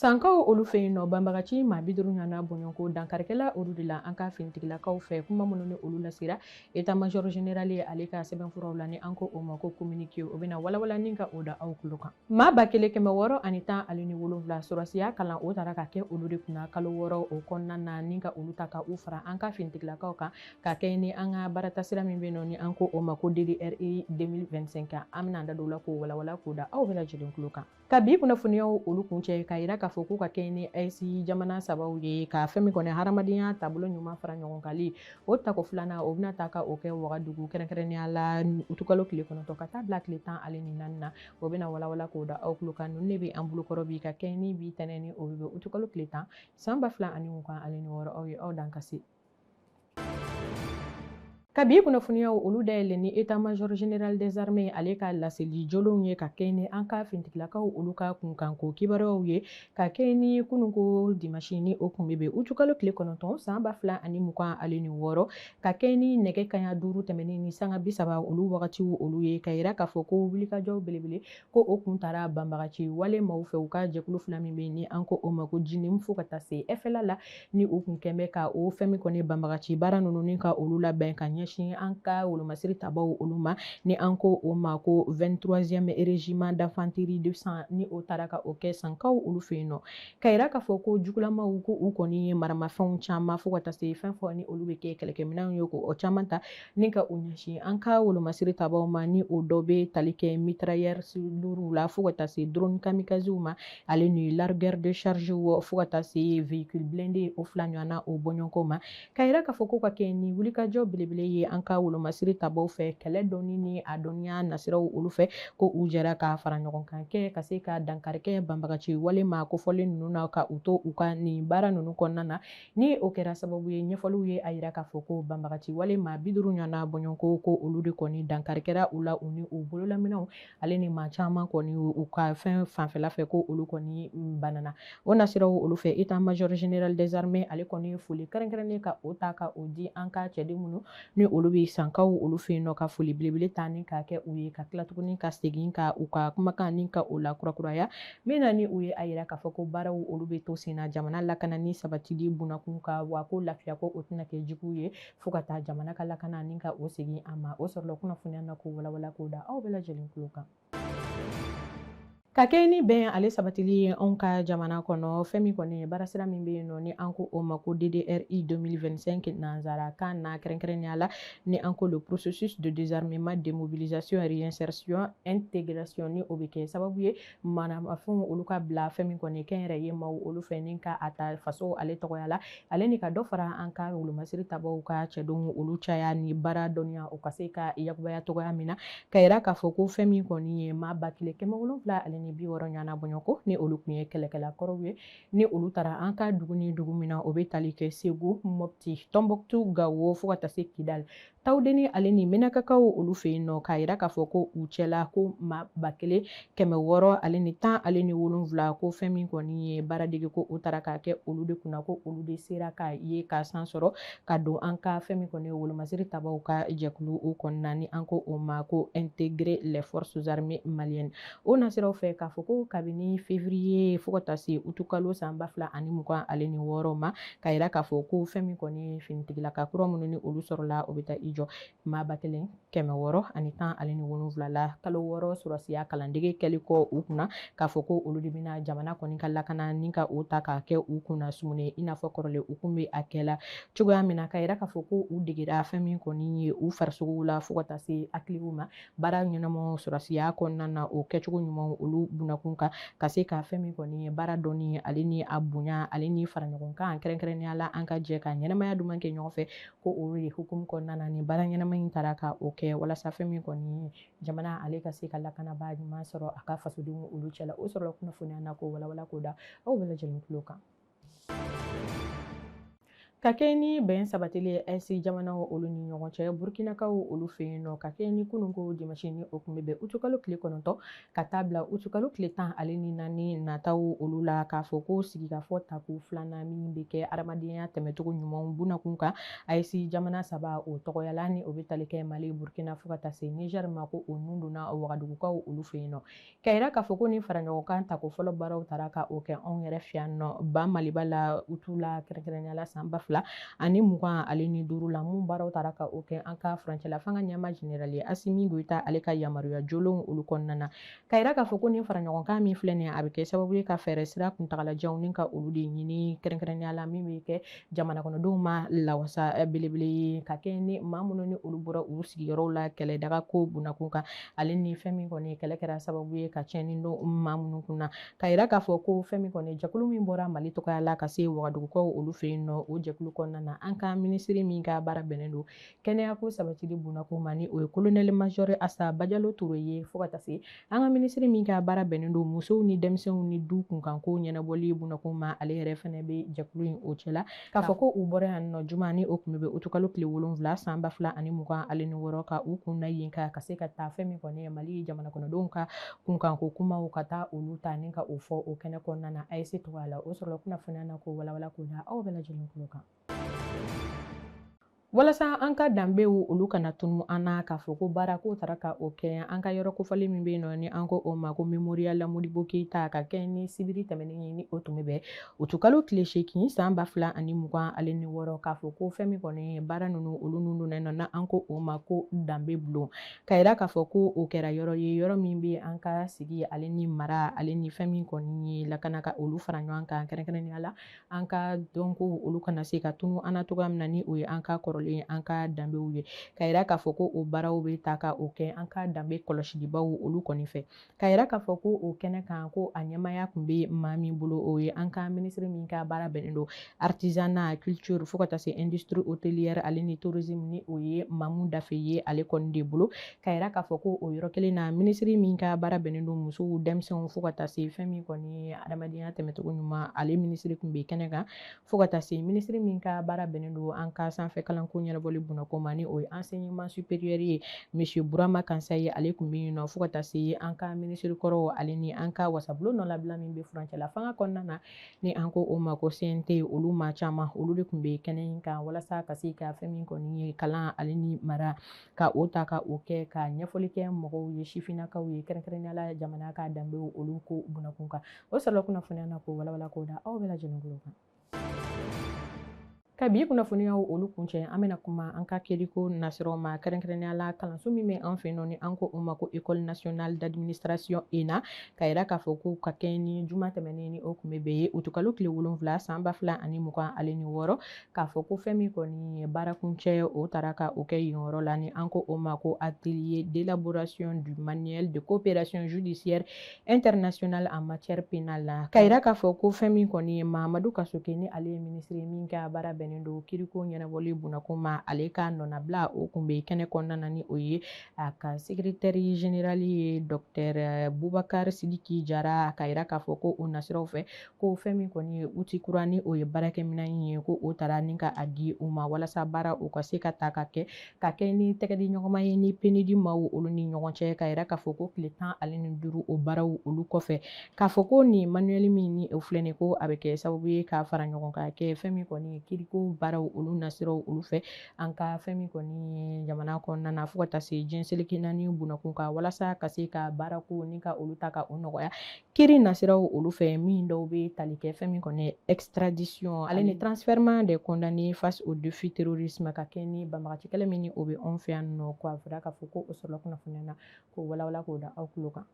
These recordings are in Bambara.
sankaw olu fɛ yen nɔ banbagaci maa bi duuru ɲɔgɔnna bɔɲɔgɔnko dankarikɛla olu de la an ka finitigilakaw fɛ kuma minnu ni olu lasera état major général ye ale ka sɛbɛnfuraw la ni an ko o ma ko communiqué o bɛna walawala ni ka o da aw tulo kan Maa ba kelen kɛmɛ wɔɔrɔ ani tan ale ni wolonwula sɔrɔsiya kalan o tara ka kɛ olu de kunna kalo wɔɔrɔ o kɔnɔna na ni ka olu ta ka u fara an ka finitigilakaw kan ka kɛ ni an ka baaratasira min bɛ nɔ ni an ko o ma ko DDRI 2025 kan an bɛna an da don la k'o walawala k'o da aw bɛɛ lajɛlen tulo kan ka bi kunnafoniyaw olu kuncɛ k'a yira k'a fɔ ko ka kɛ ni AES jamana sabaw ye ka fɛn min kɔni hadamadenya taabolo ɲuman fara ɲɔgɔn kali o tako filanan o bɛna ta ka o kɛ wagadugu kɛrɛnkɛrɛnnenya la utukalo tile kɔnɔntɔn ka taa bila tile tan ale ni naani na o bɛna walawala k'o da aw tulo kan ninnu de bɛ an bolokɔrɔ bi ka kɛɲɛ ni bi tɛnɛ ni o bɛ bɛn utukalo tile tan san ba fila ani mugan ale ni wɔɔrɔ aw ye aw dan ka se ka bi kunnafoniyaw olu dayɛlɛ ni état major général des armées ale ka laseli jolenw ye ka kɛɲɛ ni an ka finitigilakaw olu ka kunkanko kibaruyaw ye ka kɛɲɛ ni kununko dimasi ni o kun bɛ bɛn utukalo tile kɔnɔntɔn san ba fila ani mugan ale ni wɔɔrɔ ka kɛ ni nɛgɛ kaɲa duuru tɛmɛnen ni sanga bi saba olu wagatiw olu ye ka yira k'a fɔ ko wulikajɔw belebele ko o kun tara banbagaci wale maaw fɛ u ka jɛkulu fila min bɛ ni an ko o ma ko JNIM fo ka taa se FLA la ni u kun kɛn bɛ ka o fɛn min kɔni banbagaci baara ninnu ni ka olu labɛn ka ɲɛsin an ka wolomasiri tabaw olu ma ni an ko o ma ko 23e régiment d'infanterie de San ni o tara ka o kɛ sankaw olu fɛ yen nɔ ka yira k'a fɔ ko jugulamaw ko u kɔni ye maramafɛnw caman fo ka taa se fɛn fɔ ni olu bɛ kɛ kɛlɛkɛminɛnw ye ko o caman ta ni ka u ɲɛsin an ka wolomasiri tabaw ma ni o dɔ bɛ tali kɛ mitrailleurs lourds la fo ka taa se drone kamikazes ma ale ni largueur de charge fo ka taa se véhicule blindé o fila ɲɔgɔnna o bɔɲɔgɔnko ma Ka yira k'a fɔ ko ka kɛɲɛ ni wulikajɔ belebele ye an ka wolomasiri tabaw fɛ kɛlɛ dɔnni ni a dɔnniya nasiraw olu fɛ ko u jɛra ka fara ɲɔgɔn kan kɛ ka se ka dankari kɛ banbagaci wale maa kofɔlen ninnu na ka u to u ka nin baara ninnu kɔnɔna na ni o kɛra sababu ye ɲɛfɔliw ye a yira k'a fɔ ko banbagaci wale maa bi duuru ɲɔgɔnna bɔɲɔgɔnko ko olu de kɔni dankari kɛra u la u ni u bololaminɛnw ale ni maa caman kɔni u ka fɛn fanfɛla fɛ ko olu kɔni banana o nasiraw olu fɛ état major général des armées ale kɔni foli kɛrɛnkɛrɛnnen ka o ta ka o di an ka cɛden minnu ni olu bɛ sankaw olu fɛ yen nɔ ka foli belebele ta ni k'a kɛ u ye ka tila tuguni ka segin ka u ka kumakan ni ka o la kurakuraya min na ni u ye a yira k'a fɔ ko baaraw olu bɛ to sen na jamana lakana ni sabatili bunakun ka wa ko lafiya ko o tɛna kɛ jugu ye fo ka taa jamana ka lakana ni ka o segin a ma o sɔrɔla kunnafoniya na k'o walawala k'o da aw bɛɛ lajɛlen tulo kan ka kɛ ni bɛn ale sabatili ye anw ka jamana kɔnɔ fɛn min kɔni ye baarasira min bɛ yen nɔ ni an ko o ma ko ddri 2025 nanzara kan na kɛrɛnkɛrɛnnenya la ni an ko le processus de désarmement démobilisation réinsertion intégration ni o bɛ kɛ sababu ye manamafɛnw olu ka bila fɛn min kɔni kɛnyɛrɛye maaw olu fɛ ni ka a ta faso ale tɔgɔya la ale ni ka dɔ fara an ka wolomasiri tabaw ka cɛdenw olu caya ni baara dɔnniya o ka se ka yakubaya tɔgɔya min na ka yira k'a fɔ ko fɛn min kɔni ye maa ba kelen kɛmɛ wolonwula ale ni bi wɔɔrɔ ɲɔgɔnna bɔɲɔgɔnko ni olu kun ye kɛlɛkɛla kɔrɔw ye ni olu taara an ka dugu ni dugu min na o bɛ tali kɛ segu mɔpti tɔnbɔkutu gawo fo ka taa se kidali tawudeni ale ni menakakaw olu fɛ yen nɔ k'a yira k'a fɔ ko u cɛla ko maa ba kelen kɛmɛ wɔɔrɔ ale ni tan ale ni wolonwula ko fɛn min kɔni ye baaradege ko o taara k'a kɛ olu de kunna ko olu de sera k'a ye k'a san sɔrɔ ka don an ka fɛn min kɔni ye wolomasiri tabaw ka jɛkulu o kɔnɔna ni an ko o ma ko intégrer les forces armées maliennes o nasiraw fɛ k'a fɔ ko kabini février fo ka taa se utukalo san ba fila ani mugan ale ni wɔɔrɔ ma ka yira k'a fɔ ko fɛn min kɔni ye finitigilaka kura minnu ni olu sɔrɔla o bɛ taa i jɔ maa ba kelen kɛmɛ wɔɔrɔ ani tan ale ni wolonwula la kalo wɔɔrɔ sɔrɔsiya kalandege kɛli kɔ u kunna k'a fɔ ko olu de bɛna jamana kɔni ka lakana ni ka o ta k'a kɛ u kunna sumuni i n'a fɔ kɔrɔlen u kun bɛ a kɛla cogoya min na ka yira k'a fɔ ko u degera fɛn min kɔni ye u farisogow la fo ka taa se hakiliw ma baara ɲɛnama sɔrɔsiya kɔnɔna na o kɛcogo ɲumanw olu bunakun kan ka se ka fɛn min kɔni ye baara dɔnni ale ni a bonya ale ni faraɲɔgɔnkan kɛrɛnkɛrɛnnenya la an ka jɛ ka ɲɛnamaya duman kɛ ɲɔgɔn fɛ ko o ye hukumu kɔnɔna na ni baara ɲɛnama in taara ka o kɛ walasa fɛn min kɔni jamana ale ka se ka lakanabaa ɲuman sɔrɔ a ka fasodenw olu cɛla o sɔrɔla kunnafoniya na k'o walawala k'o da aw bɛɛ lajɛlen tulo kan ka kɛ ni bɛn sabatili ye ayisi jamanaw olu ni ɲɔgɔn cɛ burukinakaw olu fɛ yen nɔ ka kɛ ni kununko dimasi ni o kun bɛ bɛn utukalo tile kɔnɔntɔn ka taa bila utukalo tile tan ale ni naani nataw olu la k'a fɔ ko sigikafɔ tako filanan min bɛ kɛ adamadenya tɛmɛcogo ɲumanw bunakun kan ayisi jamana saba o tɔgɔyala ni o bɛ tali kɛ mali burkina fo ka taa se nizɛri ma ko o nun donna wagadugukaw olu fɛ yen nɔ Ka yira k'a fɔ ko ni faraɲɔgɔnkan tako fɔlɔ baaraw taara ka o kɛ anw yɛrɛ fɛ yan nɔ ba maliba la utu la kɛrɛnkɛrɛnnenya la san ba fila ani mugan ale ni duuru la minnu baaraw taara ka o kɛ an ka furancɛla fanga ɲɛmaa jenerali asimi goyita ale ka yamaruya jolenw olu kɔnɔna na ka yira k'a fɔ ko ni faraɲɔgɔnkan min filɛ nin a bɛ kɛ sababu ye ka fɛɛrɛ sira kuntagalajanw ni ka olu de ɲini kɛrɛnkɛrɛnnenya la min bɛ kɛ jamana kɔnɔdenw ma lawasa eh, belebele ye ka kɛɲɛ ni maa minnu ni olu bɔra u sigiyɔrɔw la kɛlɛ daga ko bunakun kan ale ni fɛn min kɔni kɛlɛ kɛra sababu ye ka tiɲɛni don maa minnu kun na ka yira k'a fɔ ko fɛn min kɔni jɛkulu min bɔra mali tɔgɔya la ka se wagadugukaw olu fɛ yen nɔ o jɛkulu kɔnɔna na an ka minisiri min ka baara bɛnnen don kɛnɛya ko sabatili bunakun ma ni o ye kolonɛli majɔri asa bajalo ture ye fo ka taa se an ka minisiri min ka baara bɛnnen don musow ni denmisɛnw ni du kunkanko ɲɛnabɔli bunakun ma ale yɛrɛ fɛnɛ bɛ jɛkulu in o cɛla k'a fɔ ko u bɔra yan nɔ juma ni o kun bɛ utukalo tile wolonfila san ba fila ani mugan ale ni wɔɔrɔ ka u kun na yen ka ka se ka taa fɛn min kɔni ye mali jamana kɔnɔdenw ka kunkanko kumaw ka taa olu ta ni ka o fɔ o kɛnɛ kɔnɔna na AES tɔgɔya la o sɔrɔla kunnafoniya na k'o walawala k'o da aw bɛɛ lajɛlen kulo kan walasa an ka danbew olu kana tunu an na k'a fɔ ko baara k'o taara ka o kɛ an ka yɔrɔ kofɔli min bɛ yen nɔ ni an ko o ma ko mémorial modibo keyita ka kɛ ni sibiri tɛmɛnen ye ni o tun bɛ bɛn utukalo tile seegin san ba fila ani mugan ale ni wɔɔrɔ k'a fɔ ko fɛn min kɔni baara ninnu olu ninnu donna nɔ na an ko o ma ko danbe bulon ka yira k'a fɔ ko o kɛra yɔrɔ ye yɔrɔ min bɛ an ka sigi ale ni mara ale ni fɛn min kɔni ye lakana ka olu fara ɲɔgɔn kan kɛrɛnkɛrɛnnenya la an ka dɔnkow olu kana se ka tunu an na cogoya min na ni o ye an ka kɔrɔlen an ka danbew ye ka yira k'a fɔ ko o baaraw bɛ taa ka o kɛ an ka danbe kɔlɔsilibaw olu kɔni fɛ ka yira k'a fɔ ko o kɛnɛ kan ko a ɲɛmaya kun bɛ maa min bolo o ye an ka minisiri min ka baara bɛnnen don artisanat culture fo ka taa se industrie hôtelière ale ni tourisme ni o ye Mamu Dafe ye ale kɔni de bolo ka yira k'a fɔ ko o yɔrɔ kelen na minisiri min ka baara bɛnnen don musow denmisɛnw fo ka taa se fɛn min kɔni ye adamadenya tɛmɛcogo ɲuman ale minisiri kun bɛ kɛnɛ kan fo ka taa se minisiri min ka baara bɛnnen don an ka sanfɛ kalanko ɲɛnabɔli bunakun ma ni o ye enseignement supérieur ye monsieur burama kansaye ale kun bɛ yen nɔ fo ka taa se an ka minisiri kɔrɔw ale ni an ka wasabulon nɔnabila min bɛ furancɛla fanga kɔnɔna na ni an ko o ma ko CNT olu maa caman olu de kun bɛ kɛnɛ in kan walasa ka se ka fɛn min kɔni ye kalan ale ni mara ka o ta ka o kɛ ka ɲɛfɔli kɛ mɔgɔw ye sifinnakaw ye kɛrɛnkɛrɛnnenya la jamana ka danbe olu ko bunakun kan o sɔrɔla kunnafoniya na k'o walawala k'o da aw bɛɛ lajɛlen kulo kan ka bi kunnafoniyaw olu kuncɛ an bɛna kuma an ka kiriko nasiraw ma kɛrɛnkɛrɛnnenya la kalanso min bɛ an fɛ nɔ ni an ko o ma ko école nationale d'administration ENA ka yira k'a fɔ ko ka kɛɲɛ ni juma tɛmɛnen ni o kun bɛ bɛn ye utukalo tile wolonwula san ba fila ani mugan ale ni wɔɔrɔ k'a fɔ ko fɛn min kɔni ye baara kuncɛ ye o taara ka o kɛ yen yɔrɔ la ni an ko o ma ko atelier d'élaboration du manuel de coopération judiciaire internationale en matière pénale la ka yira k'a fɔ ko fɛn min kɔni ye mahamadu kasoge ni ale ye minisiri ye min ka baara bɛnnen don kiriko ɲɛnabɔli bunakun ma ale ka nɔnabila o kun bɛ kɛnɛ kɔnɔna na ni o ye a ka secrétaire général ye docteur bubakar sidiki jara ka yira k'a fɔ ko o nasiraw fɛ ko fɛn min kɔni ye outil kura ni o ye baarakɛminɛn in ye ko o tara ni ka a di u ma walasa baara o ka se ka ta ka kɛ ka kɛ ni tɛgɛdi ɲɔgɔnma ye ni PNUD maaw olu ni ɲɔgɔn cɛ ka yira k'a fɔ ko tile tan ale ni duuru o baaraw olu kɔfɛ k'a fɔ ko nin manuel min ni o filɛ nin ko a bɛ kɛ sababu ye ka fara ɲɔgɔn kan kɛ fɛn min kɔni ye kiriko baaraw olu nasiraw olu fɛ an ka fɛn min kɔni ye jamana kɔnɔna na fo ka taa se diɲɛ seleke naani bunakun kan walasa ka se ka baarako ni ka olu ta ka o nɔgɔya Kiri nasiraw olu fɛ min dɔw bɛ tali kɛ fɛn min kɔni ye extradition ale ni transfèrement des condamnés face au défi terrorisme ka kɛ ni banbagaci kɛlɛ min ni o bɛ anw fɛ yan nɔ k'a fɔra k'a fɔ ko o sɔrɔla kunnafoniya na k'o walawala k'o da aw tulo kan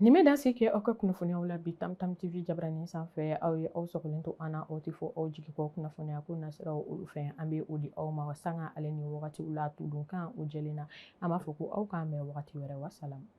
nin bɛ dan sigi kɛ aw ka kunnafoniyaw la bi tamtam tv jabaranin sanfɛ aw ye aw sɔgɔlen to an na aw tɛ fɔ aw jigi kɔ kunnafoniya ko nasiraw olu fɛ an bɛ o di aw ma sanga ale ni wagatiw la tudunkan o jɛlen na an b'a fɔ ko aw k'an bɛn wagati wɛrɛ wasalamu